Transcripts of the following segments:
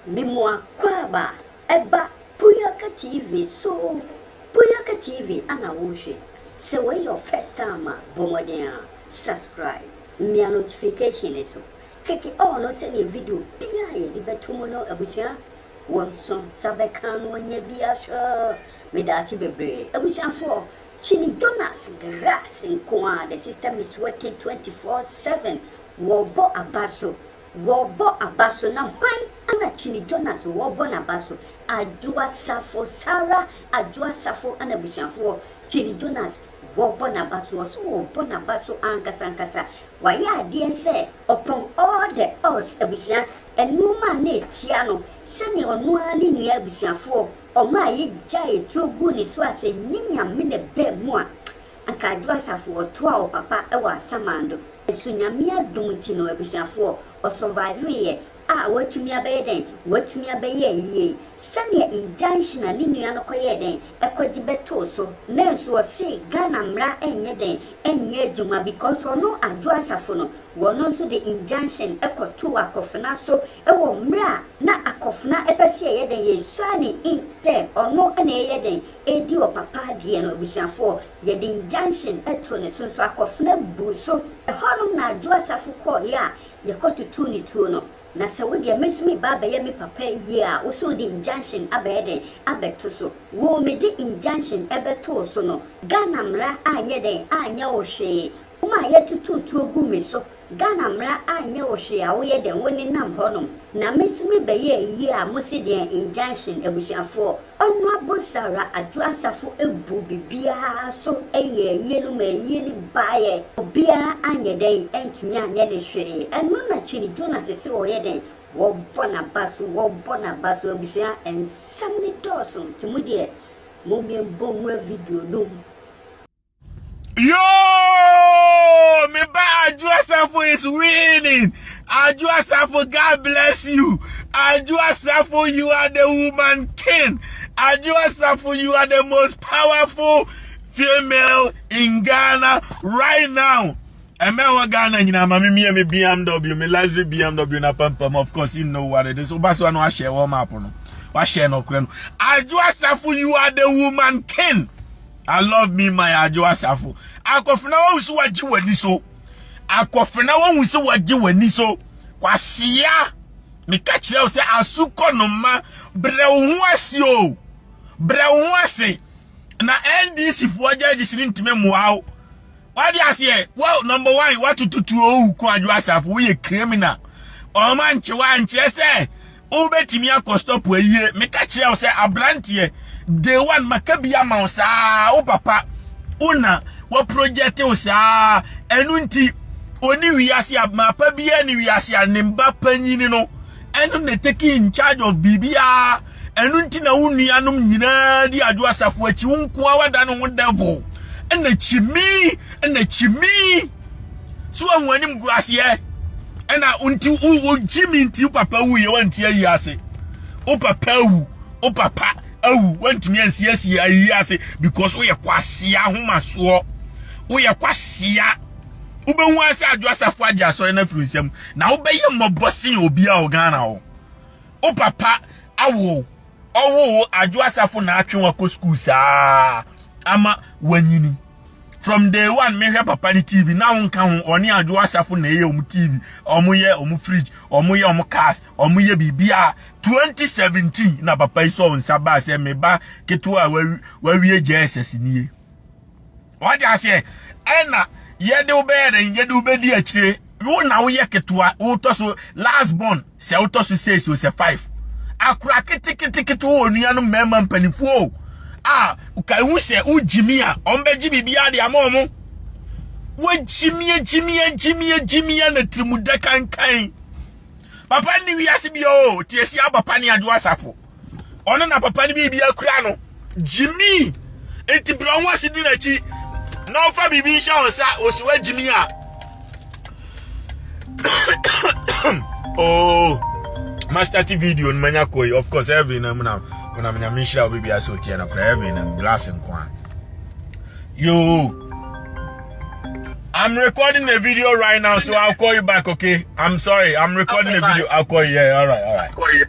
Mimoa kwaaba ɛba Puyaka TV so Puyaka TV ana wohwɛ sɛ wei yɛ wo first time a bɔ mmɔden a subscribe mia notification no so keke all no sɛdeɛ video biaa a yɛde bɛto mu no abusua wo nso nsa bɛka no ɔnya bi ahwɛ medaase bebree abusuafoɔ Kyini Jonas Grass nkoaa the system is working 24 7 wɔbɔ aba so Wɔbɔ aba so na hwan na Kyini Jonas wɔbɔ n'aba so? Adwo Asafo, Sarah Adwo Asafo na abusuafoɔ Kyini Jonas wɔbɔ n'aba so, ɔse wɔbɔ n'aba so ankasa ankasa, wayɛ adeɛ sɛ ɔpɔn all the odds abusua, nnoɔma a na ɛtia no, sɛdeɛ ɔno ara ne nua abusuafoɔ ɔmaa yɛgyaee tuo guu ne so a sɛ nyɛ Nyame na ɛbaa mu a Akaadwo Asafo ɔtoaa wo papa wɔ asamando so Nyame adom nti no abusuafoɔ ɔsurviveeɛ a watumi abɛyɛ dɛn watumi abɛyɛ ayie sɛdeɛ Ngyangye a ne nua no kɔyɛɛ dɛn kɔgye bɛtoo so nanso ɔsee Ghana mmra nyɛ dɛn nyɛ adwuma because ɔno Adwo Asafo no wɔno nso de Injunction kɔtoo Akofena so wɔ mmerɛ a na Akofena pɛsɛ yɛyɛ dɛn yɛsua ne in sɛ ɔno na ɛyɛ dɛn Edi wɔ papa deɛ no abusuafoɔ yɛde injunction to ne so nso akɔfena buu so ɛhɔnom na adwo asafo kɔɔeɛ a yɛkɔ tutuu ne tuo no na sɛ wo deɛ me nso me ba abɛyɛ me papa ayie a wo so wode injunction abɛyɛ dɛn abɛto so wo mede injunction bɛtoo so no Ghana mmara anyɛ dɛn anyɛ wo hwee wo ma yɛtutuu tuo gu me so Ghana mmra anyɛ wo hwee a woyɛ dɛn wo ne nam hɔ nom na me nso me bɛ yɛɛ yie a mo se deɛn injunction abusuafoɔ Honourable Sarah Adwoa Asafo bu bibiaa so yɛɛ yie no maa yie no baeɛ obiaa anyɛ dɛn antumi anyɛ ne hwee ɛno na Twene Jonas se ɔyɛ dɛn wɔbɔ naba so wɔbɔ naba so abusua nsɛm no dɔɔso nti mo deɛ mo me bɔ mua video nom. Yo! Me ba Aju Asafo is winning. Aju Asafo, God bless you. Aju Asafo, you are the woman king. Aju Asafo, you are the most powerful female in Ghana right now. ɛmɛ wɔ ghana nyinaa ma me mia me bmw me luxury bmw na pampam of course you know what it is woba so ano ahyɛ wɔ map no wahyɛ no korɛ no adwo asafo you are the woman king I love me my Adwo Asafo. Akofena wahu so wagye w'ani so. Akofena wahu so wagye w'ani so. Kwasia meka kyerɛ wo sɛ asu kɔ no ma brɛ wo ho ase o. Brɛ wo ho ase na NDC foɔ judges no ntumi mmoa wo. Wade aseɛ wo number one watototuo owu kɔ Adwo Asafo woyɛ criminal. Ɔma nkyewa nkyerɛ sɛ Wobɛtumi akɔ stɔpo ayie. Meka kyerɛ wo sɛ aberanteɛ day one maka bi ama wo saa wo papa wo na waprojɛte wo saa ɛno nti ɔne wiase a mapa biara ne wiase a ne mba panyini no ɛno na taking in charge of biribiara ɛno nti na wo nuanom nyinaa di adwo asafo akyi wo nkoa wada ne ho devil ɛna kyimi ɛna kyimi So wɔn anim gu aseɛ ɛna nti wogye me nti papa wu yɛ wanti ayi ase wo papa awu wo papa awu wantumi ansiesie ayi ase because woyɛ kwasea ahomasoɔ woyɛ kwasea wobɛhu ase adwo asafo agye asɔre no afiri nsɛm na wobɛyɛ mmɔbɔ sen obi a ɔghana hɔ wo papa awo ɔwoo adwo asafo na atwe wakɔ school saa ama wanyini from day one mehwɛ papa ne tv na wonka ho ɔne adwo asafo na ɛyɛ ɔmo tv ɔmo yɛ ɔmo fridge ɔmo yɛ ɔmo cars ɔmo yɛ biribiara 2017 na papa yi sɔ nsa baa sɛ meba ketewa a wawie jss nie Wate aseɛ? Ɛna yɛde wo bɛyɛ dɛn? Yɛde wo bɛdi akyire. Wo na woyɛ ketewa, wotɔ so last born, sɛ wotɔ so six o, sɛ five. Akora keteketekete wɔ onua no mmarima mpanimfoɔ o. A ka ehu sɛ wogyimi a, wɔn bɛgye biribiara de ama wɔn. Wogyimi agyimi agyimi agyimi a na tirimu da kankan. Papa nni wiase bi o, tie si abapa ne adwo asafo. ɔno na papa no biribi akura no gyimi nti brɛ ɔho ase di n'akyi na ɔfa biribi nhyɛ wɔn nsa ɔsi wa gyimi a oh master ti video no manya kɔ yi of course heaven na mu na ɔnam nyame nhyira wo biribi ase ɔtiɛ no kora heaven na glass nko a yo I'm recording the video right now, so I'll call you back, okay? I'm sorry, I'm recording the video. I'll call you. Yeah, all right, all right.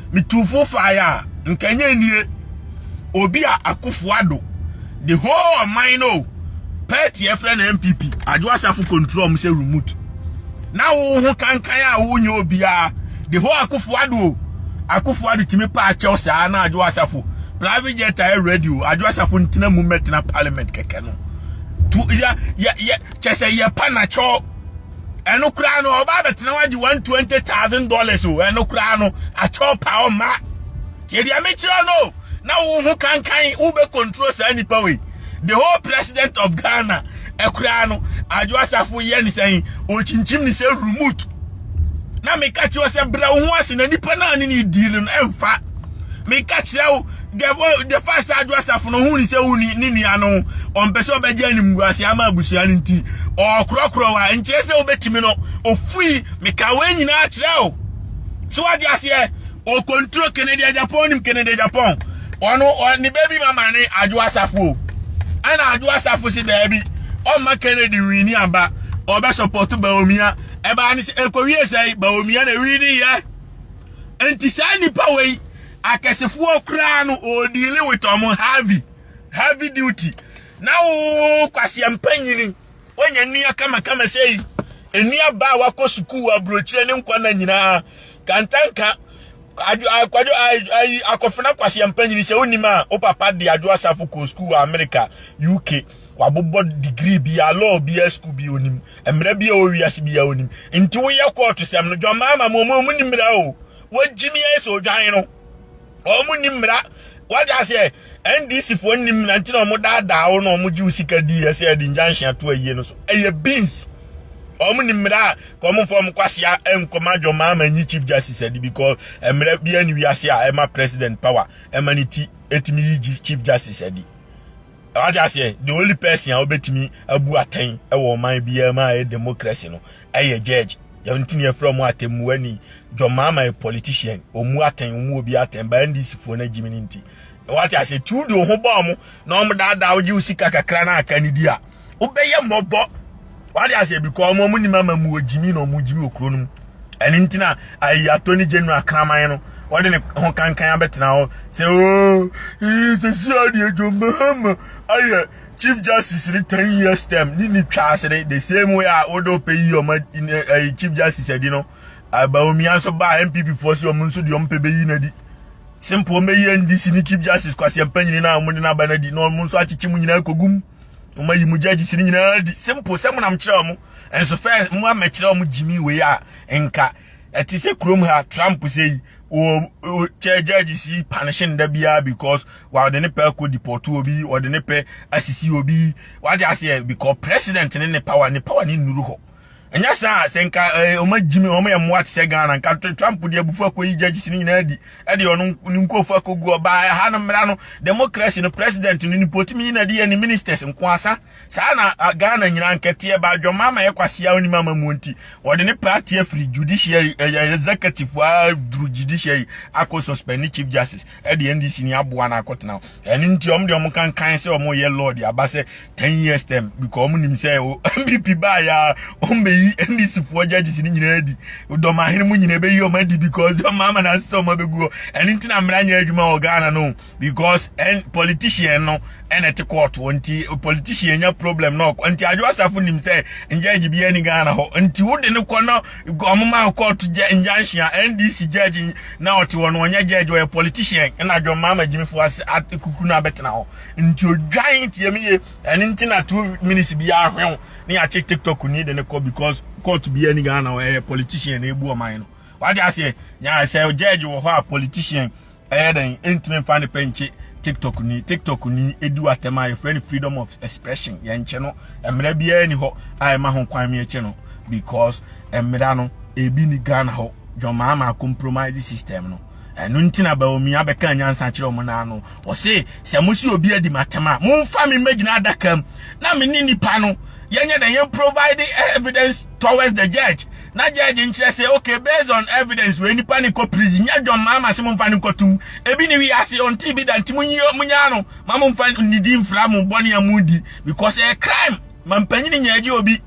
Metu fo fae a, nka ɛnyɛ nnie. Obi a Akufo Addo de whole ɔman no o, party a ɛfrɛ no NPP, Adwo Asafo control ɔmo sɛ remote. Na wo ho kankan a wonyɛ obiara, de whole Akufo Addo o, Akufo Addo tumi paa kyɛw saa na Adwo Asafo, private jet a ɛyɛ ready o, Adwo Asafo ntena mu mmɛtena parliament kɛkɛ no. Tu, yɛ, yɛ, yɛ, kyɛ sɛ yɛpa na kyɛw. Ɛno koraa no ɔba abɛtena hɔ agye one twenty thousand dollars o ɛno koraa no akyɛw paa ɔma tie deɛ mekyerɛ no o na wo ho kankan wo bɛ control saa nipa wei the whole president of Ghana ɛkoraa no adwo asafo yɛ ne sɛn ɔkyinkyim ne sɛ remote na meka kyerɛ sɛ brɛ wo ho ase na nipa no a ne ne diili no ɛmfa meka kyerɛ wo the fact sɛ adwo asafo no hu ne sɛ wo ne nua no ɔmpɛ sɛ ɔbɛgye animguase ama abusua no nti ɔkorɔkorɔ wa nkyerɛ sɛ wobɛtumi no ofui meka wei nyinaa kyerɛ o so wate aseɛ ɔkonturo kennedy ajapɔn nim kennedy ajapɔn ɔno ne baby mama ne adwo asafo o ɛna adwo asafo se daabi ɔmma kennedy wini aba ɔbɛsɔpɔto baomia ɛbaa ne sɛ ɛkɔwie sɛe baomia na wini yɛ nti saa nnipa wei Akɛsefoɔ koraa no ɔɔ deal with ɔmo heavy heavy duty na woo kwaseɛ mpanyini wanya nnua kama kama sɛyi nnua ba a wakɔ sukuu aburokyerɛ ne nkwa na nyinaa kantanka akwadwo ayi akɔfena kwaseɛ mpanyini sɛ wonim a wo papa de adwo asafo kɔɔ sukuu wɔ Amerika UK wabobɔ degree bi a law bi a sukuu bi onim mmara bi a ɔwɔ wiase bi a onim nti woyɛ kɔɔto sɛm no dwamaa ma mo mo nim mmara o Wɔgyimi ayɛ sɛ odwan no. Wɔn nni mmara. Wagye aseɛ NDC foɔ nni mmara nti na wɔn daadaa wo na wɔn gye wo sika di ɛsɛ ɛde injunction ato ayie no so. Ɛyɛ beans. Wɔn nni mmara a ka wɔn mfa wɔn kwasia nkɔma John Mahama nyi chief justice adi because mmara bi ani wiase a ɛma president power ɛma ne ti ɛtumi yi chief justice adi. Wagye aseɛ the only person a wɔbɛtumi abu atɛn ɛwɔ ɔman biara mu a ɛyɛ democracy no ɛyɛ judge yɛntumi yɛfrɛ ɔmo atɛmmuani jɔmaama yɛ politician ɔmu atɛn ɔmu obi atɛn ba ndc foɔ no gyimi no nti na wate ase ti wode wo ho bɔ ɔmo na ɔmo daadaa wogye wo sika kakra na aka ne di a wobɛyɛ mmɔbɔ wate ase bi kɔ ɔmo ɔmo nim ama mu ogyimi na ɔmo gyimi okuro no mu ɛne nti na ayi attorney general kraman no wɔde ne ho kankan abɛtena hɔ sɛ oo sɛsi adeɛ jɔmaama ayɛ chief justice ne ten years term ne ne twa ase ne the same way a wode ɔpɛ yi ɔma ɛyɛ chief justice adi no abaomia nso baa npp foɔ sɛ ɔmo nso deɛ ɔmo pɛ bɛyi no adi simple ɔmo bɛyi ndc ne chief justice kwasi mpanyini no a ɔmo de no aba no adi na ɔmo nso akyekye mu nyinaa kɔgum ɔmo ayi mu judges no nyinaa adi simple sɛ mo nam kyerɛ ɔmo nso fɛ mo amɛkyerɛ ɔmo gyimi wei a nka ɛte sɛ kurom ha trump sɛ yi kyɛ judge si panishe nda biara because wɔde ne pɛ kɔ deport obi wɔde ne pɛ asisi obi wɔde aseɛ because president ne ne power ne power ne nnuru hɔ ɛnyɛ saa sɛ nka ɔma gyimi ɔma yɛ mmoa te sɛ ghana nka trump deɛ abufu akɔyi judges no nyinaa di ɛde ɔno ne nkurɔfo akɔgu ɔbaa ɛha no mmara no democracy no president no ne potumi yi na ɛde yɛ ne ministers nko asa Saa na Ghana nyinaa nketeɛ ba adwamma ama yɛ kwasea onim ama mu nti wɔde ne party afiri judiciary ɛyɛ executive wa duru judiciary akɔ suspend chief justice ɛde NDC ni aboa na akɔtena ɛne nti wɔn de wɔn kankan sɛ wɔn yɛ lord aba sɛ 10 years term because wɔn nim sɛ MPP baa ya wɔn bɛyi NDC foɔ judges ni nyinaa di dɔm ahene mu nyinaa bɛyi wɔn adi because dɔm ama na asɛ wɔn abɛgu hɔ ɛne nti na mmara nyɛ adwuma wɔ Ghana no because and politician no and at court nti politician nya problem no nti adwo asafo nim sɛ judge bi ani Ghana hɔ nti wo de no kɔ na ɔmoma court injunction NDC judge na ɔte wɔn ɔnyɛ judge ɔyɛ politician na adwo mama gyimifo ase kukuru na abɛtena hɔ nti odwan nti emi ye ɛne nti na two minutes bi ahwew ne yɛakye tiktok ni de no kɔ because court bi ani Ghana hɔ ɛyɛ politician na ebu ɔman no wade aseɛ nyaa sɛ judge wɔ hɔ a politician Ɛyɛ dɛn ɛntumi mfa ne pɛ nkye tiktok ni tiktok ni ɛdi watɛm a yɛfrɛ no freedom of expression yɛnkye no mmara biara ni hɔ a ɛma ho kwan meɛkye no because mmara no ebi ni ghana hɔ dwɔmaa ma compromise system no ɛno nti na baomi abɛka nyansa kyerɛ ɔmo naa no ɔse sɛ mo si obi adi matɛm a momfa me mmɛgyina adaka mu na me ne nipa no yɛnyɛ dɛn yɛn provide evidence towards the judge na judge nkyerɛ sɛ okay based on evidence wei nipa ne kɔ prison nyɛ dwom maa ma se mo nfa ne nkɔ tum ebi ne wi ase ɔnte bi da nti mo nyi mo nyaa no ma mo nfa ne di nfra mo bɔne a mo di because ɛyɛ crime ma mpanyin nyɛ agye obi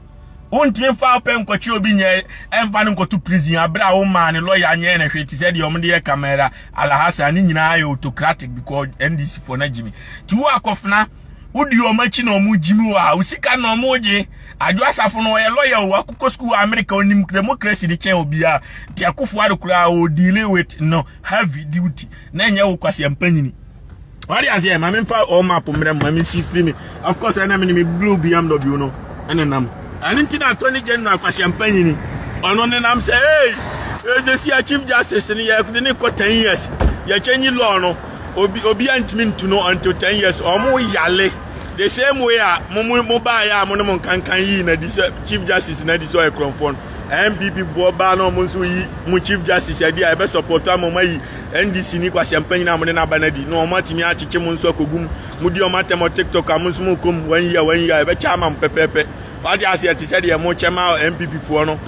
wontumi mfa ɔpɛ nkɔkye obi nyɛ ɛmfa no nkɔto prison abere a womaa ne lɔya nyɛ ne hwee te sɛ deɛ wɔde yɛ kamara alahasa ne nyinaa yɛ autocratic because ndc foɔ no agyimi ti wo akɔfena wodi wɔn akyi na wɔn gyim wɔ a osika na wɔn regye adwo asafo no ɔyɛ lɔya o akokɔ sukuu wɔ amerika onim democracy ne kyɛn obiara nti akofo ado koraa o deal with no heavy duty na ɛnyɛ wo kwasi mpanyini wade aseɛ ma memfa ɔɔ map mmerɛ mu ma mensi firi me of course ɛna mene me blue bmw no ɛne nam ɛno nti na attorney general kwasi mpanyini ɔno ne nam sɛ hey ɛdɛsi a chief justice no yɛde ne kɔ 10 years yɛkyɛ nyi law no Obi obia ntumi ntu no until ten years ɔmo yale the same way a mo mo mo baa yɛ a mo ne mo nkankan yii na di sɛ chief justice na di sɛ ɔyɛ korɔmfoɔ no npp boɔ baa na ɔmo nso yi mo chief justice adi a ɛbɛ support ama ɔmo ayi ndc ni kwahyɛ mpanyin a mo ne n'aba na di na ɔmo atumi akyekye mo nso akogum mo di ɔmo atɛm ɔ tiktok a mo nso mo kɔm wɔn yi a wɔn yi a ɛbɛ kyɛ ama mo pɛpɛɛpɛ wate aseɛ te sɛ deɛ mo kyɛ ma npp foɔ no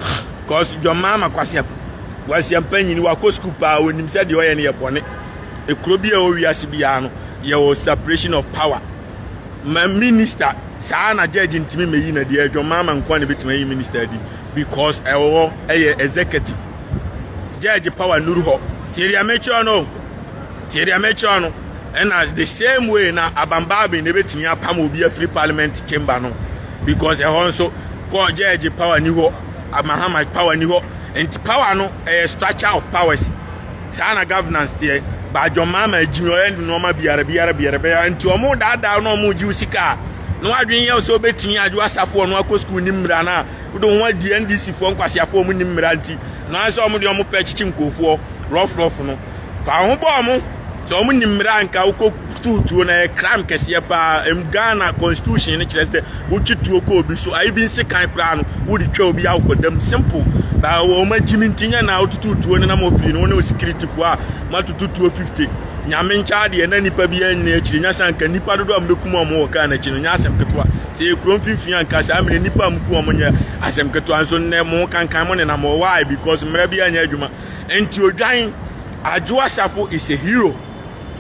cause jɔn maa ma kwahyɛ kwahyɛ mpanyin wakɔ school paa onim sɛ deɛ ɔyɛ no yɛ bɔne. Kuro biara a ɛwɔ wiase biara no, yɛwɔ separation of power. Ma minister saa na judge ntumi mɛyi na deɛ adwamaa ma nkoa na ɛbɛtumi ayi minister adi because ɛwɔ hɔ ɛyɛ executive. Judge power nuru hɔ. Tie deɛ mekyerɛ no. Tie deɛ mekyerɛ no. Ɛna the same way na abambaabi na ɛbɛtumi apam obi afiri parliament chamber no because ɛhɔ nso kɔ judge power ni hɔ, amahama power ni hɔ. Nti power no ɛyɛ structure of powers. Saa na governance teɛ. Badwo mmaa ma agyimi ɔyɛ nnoɔma biara biara biara bɛyɛ nti wɔn daadaa na wɔn gye sika a na wadwene yɛ sɛ ɔbɛtumi agye asafo wɔn akɔ sukuu ne mmira na wode wɔn adi NDC foɔ nkwaseafoɔ wɔn nim mmira nti na wɔn sɛ wɔn de wɔn pɛ kyekye nkurɔfoɔ rɔfrɔfo no fa wɔn bɔ wɔn sɛ wɔn nim mmira nka wokɔ Too tuo na yɛ crime kɛseɛ paa m Ghana constitution no kyerɛ sɛ wotwe tuo kɔ obi so a even sekan koraa no wode twa obi a wokɔ dam simple ba wɔn agyimi nti nyɛ na wotutu tuo no na mo fie no wo ne wo security fo a moatutu tuo 50 nyame nkyɛ adeɛ na nipa bi anyina akyiri nya sɛ anka nipa dodo a mobɛkum a wɔwɔ kaa no akyi no nyɛ asɛm ketewa sɛ yɛ kuro mfimfini anka saa mmerɛ nipa a moku wɔn nyɛ asɛm ketewa nso nnɛ mo kankan mo nenam wɔ why because mmerɛ bi anyɛ adwuma nti odwan adwo asafo is a hero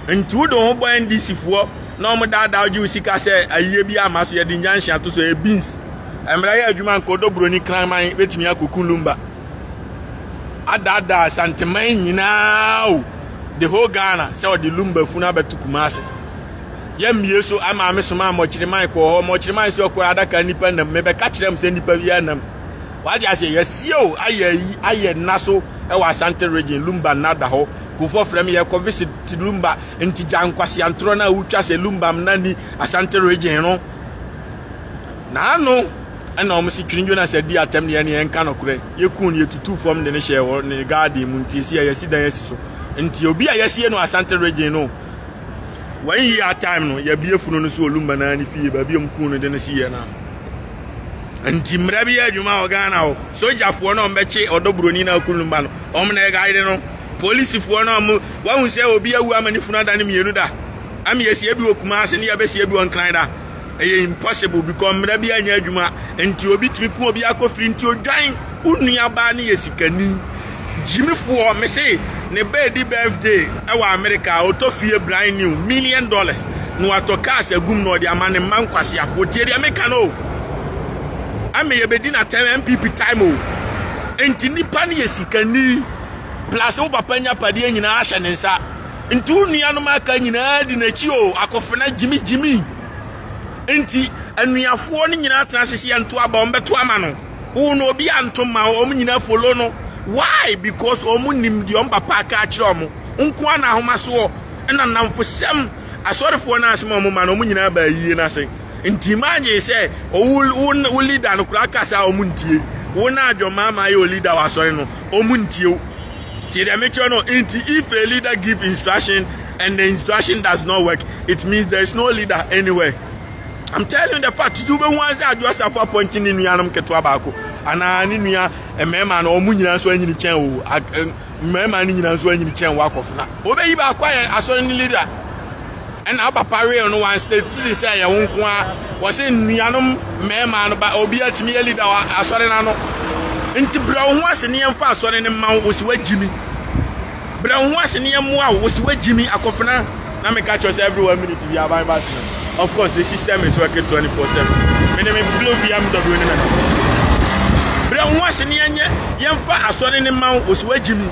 Nti wode wo ho bɔ NDC foɔ na wɔn daadaa wogye wo sika sɛ ayie bi ama so yɛde nyanhye ato so ɛyɛ beans. Mmara yɛ adwuma nka ɔdɔ buroni kraman bɛtumi akɔku lumba adaadaa santeman nyinaa o the whole Ghana sɛ ɔde lumba funu abɛto Kumase. Yɛmmie so ama me soma mmɔkyere man kɔɔ hɔ mmɔkyere man sɛ ɔkɔɛ adaka nnipa nam mebɛka kyerɛ m sɛ nnipa biara nam Wate aseɛ, yɛasie o, ayɛ ayi, ayɛ nna so wɔ Asante region, Lumba nna da hɔ. Kurofoɔ frɛ me, yɛrekɔ visit Lumba, nti gya nkwaseantorɔ no a wotwa sɛ Lumba nna ni Asante region no. Na ano na wɔn se Twene Jonas adi atɛm deɛ ne yɛnka nokorɛ. Yɛkuu no, yɛtutuu fam de no hyɛɛ hɔ ne garden mu, nti ɛsi a yɛasi dan asi so. Nti obi a yɛasie no wɔ Asante region no, one year time no, yɛabue funu no so wɔ Lumba nna ne fie, baabi a wɔkuu no de no sieɛ no a. nti mmara bi yɛ adwuma wɔ ghana hɔ sogyafoɔ no ɔmbɛkye ɔdɔ buroni no akunu mma no ɔm na ɛgaede no polisifoɔ no ɔmo wahu sɛ obi awu ama ne funu ada no mmienu da ama yɛsie bi wɔ kuma ase ne yɛbɛsie bi wɔ nkran da ɛyɛ impossible because mmara bi anyɛ adwuma nti obi tumi ku obi akɔfiri nti odwan Wo nuabaa no yɛ sikani. Jimmy foɔ me se ne ba edi birthday ɛwɔ America a ɔtɔ fie brand new million dollars na watɔ cars agum na ɔde ama ne mma nkwaseafoɔ tie deɛ meka no o. Ɛmɛ yɛbɛdi no atɛm MPP time o. Nti nipa no yɛ sikani plus wo papa nya padeɛ nyinaa ahyɛ ne nsa. Nti wo nuanom aka nyinaa di n'akyi o akofena Jimmy Jimmy. Nti anuafoɔ no nyinaa tena ase sɛ yɛnto aba wɔn bɛto ama no. wo no obi anto ma wo wɔn nyinaa follow no why because wɔn nim deɛ wɔn papa aka akyerɛ wɔn nko ara na ahomasoɔ ɛna nnamfosɛm asɔrefoɔ no asɛm a wɔn ma no wɔn nyinaa baa yie no ase nti imagine sɛ wo wo wo leader no koraa kasa a wɔn ntie wo na adwɔmaa ma ayɛ o leader wɔ asɔre no wɔn ntie wo tie deɛ mekyerɛ no nti if a leader give instruction and the instruction does not work it means there is no leader anywhere. I'm telling you the fact you be one side just after appointing ne nuanom ketewa baako anaa ne nua mmarima na wɔn nyinaa nso anyini kyɛn o mmarima no nyinaa nso anyini kyɛn wakɔfo na wɔbɛyi baako ayɛ asɔre ne leader ɛna aba pareel no wɔn state tiri sɛ ɛyɛ wɔn nko ara wɔsi nuanom mmarima no ba obi atumi yɛ leader wɔ asɔre n'ano nti brɛ wɔn ho ase ne yɛn fa asɔre ne mma wɔsi wɔagyi mi. Brɛ wo ho ase na yɛmmoa wo. Wose woagyimi akofena na meka kyerɛ sɛ every one minute bi aban ba tena. Of course the system is working 24/7. Mene me blow BMW ne me nam. Brɛ wo ho ase na yɛnyɛ yɛmfa asɔre ne ma wo. Wose woagyimi.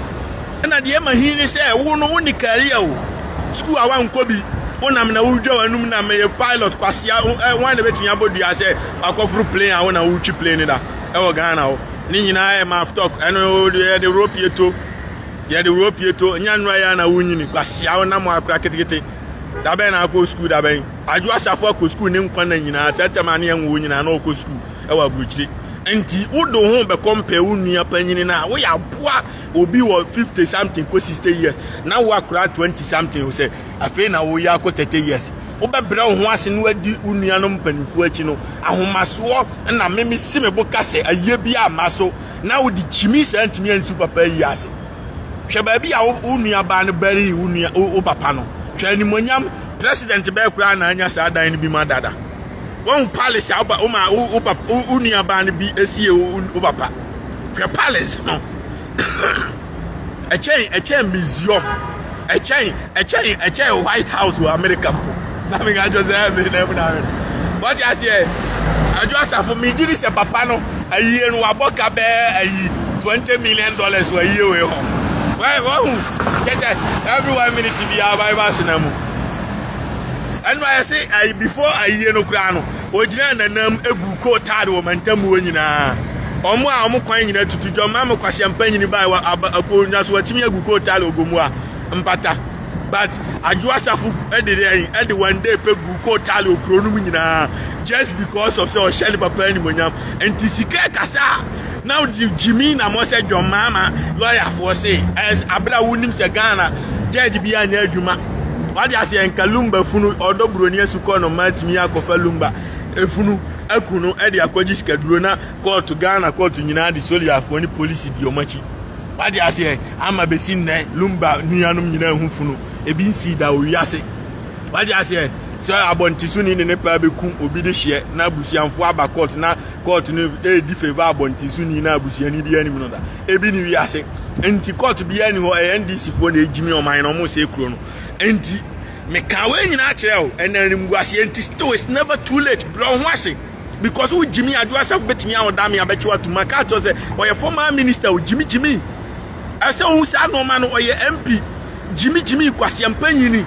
Ɛna deɛ ɛma hin ne sɛ wo no wonni career o. School a woankɔ bi. Wonam na wodwa w'anum nam meyɛ pilot kwasea eh wan na ɛbɛtumi abɔ dua sɛ wakɔforo plane a wo na wotwi plane no da ɛwɔ Ghana hɔ. Ne nyinaa yɛ maaf talk ɛno yɛde rope to. yɛde wɔ pie to nya nnura yɛ na wonyini kwasia wo nam akora ketekete da bɛn na akɔ sukuu da bɛn adwo asafo akɔ sukuu ne nkwa na nyinaa tɛtɛm ane yɛn wo nyinaa na ɔkɔ sukuu ɛwɔ aburokyire nti wode wo ho bɛkɔ mpɛ wo nua panyini no a woyɛ aboa obi wɔ 50 something kɔ 60 years na wo akora 20 something wo sɛ afei na woyɛ akɔ 30 years wobɛbrɛ wo ho ase no adi wo nuanom mpanimfoɔ akyi no ahomasoɔ na meme si me bo ka sɛ ayie bi amma so na wode kyimi saa ntumi ansi wo papa ayi ase. Hwɛ baabi a wo nua baa no bɛree wo nua wo papa no. Hwɛ animonyam president bɛɛ koraa na anya saa dan no bi ma dada. Wɔn palace a wo ma wo papa wo nua baa no bi esie wo papa. Hwɛ palace no. ɛkyɛn ɛkyɛn museum ɛkyɛn ɛkyɛn ɛkyɛn white house wɔ america mpo na mi ka kyerɛ sɛ ɛyɛ mi na ɛmu na ayɛ wɔte aseɛ adwo asafo mi gyi ni sɛ papa no ayie no wabɔ ka bɛɛ ayi twenty million dollars wɔ ayie wei hɔ wɔn wɔn ho kyɛ sɛ every one minute bi a ɔbaa ɛbaa sena mu ɛnu ayɛ se ayi before ayie no koraa no. Ogyinaa n'anam guu kootaad wɔ mantam mu hɔ nyinaa. Wɔn a wɔn kwan nyinaa tutu dwam ma me kwasia mpanyin bae wɔ aba apow na so watumi agu kootaad ogomua mpata. But adwo asafo de dɛn de one day pɛ gu kootaad okuro no mu nyinaa just because of sɛ ɔhyɛ ne papa animonyam nti sika kasa na ɔde gyimi na mo sɛ dwam maama lɔyafoɔ se ɛs abira wonim sɛ Ghana judge bi anyɛ adwuma Wate aseɛ nka lumba funu ɔdɔ buroni asukɔ no mma atumi akɔfa lumba efunu aku no de akɔgye sikaduro na kɔɔto Ghana kɔɔto nyinaa de soliafoɔ ne polisi di wɔn akyi. Wate aseɛ ama bɛsi nnɛ lumba nuanom nyinaa hu funu ebi nsii da wɔ wiase. Wate aseɛ sɛ abɔntesoni ne ne paa bɛku obi de hyeɛ na abusuamfoɔ aba kɔɔto na kɔɔto no ɛredi feva abɔntesoni na abusuani bi anim no da. ebi ne wiase nti court biara ni hɔ ɛyɛ ndc foɔ na egyimi ɔman na wɔn sɛ kuro no nti meka wɔn nyinaa kyerɛ o ɛna animguaseɛ nti still it's never too late brɛ wɔn ho ase because wo gyimi adwoa sɛ wobɛtumi ahoda me abɛkyew atum aka akyerɛ sɛ ɔyɛ former minister o gyimi gyimi ɛsɛ ohun saa nneɛma no ɔyɛ mp gyimi gyimi kwaseɛ mpanyini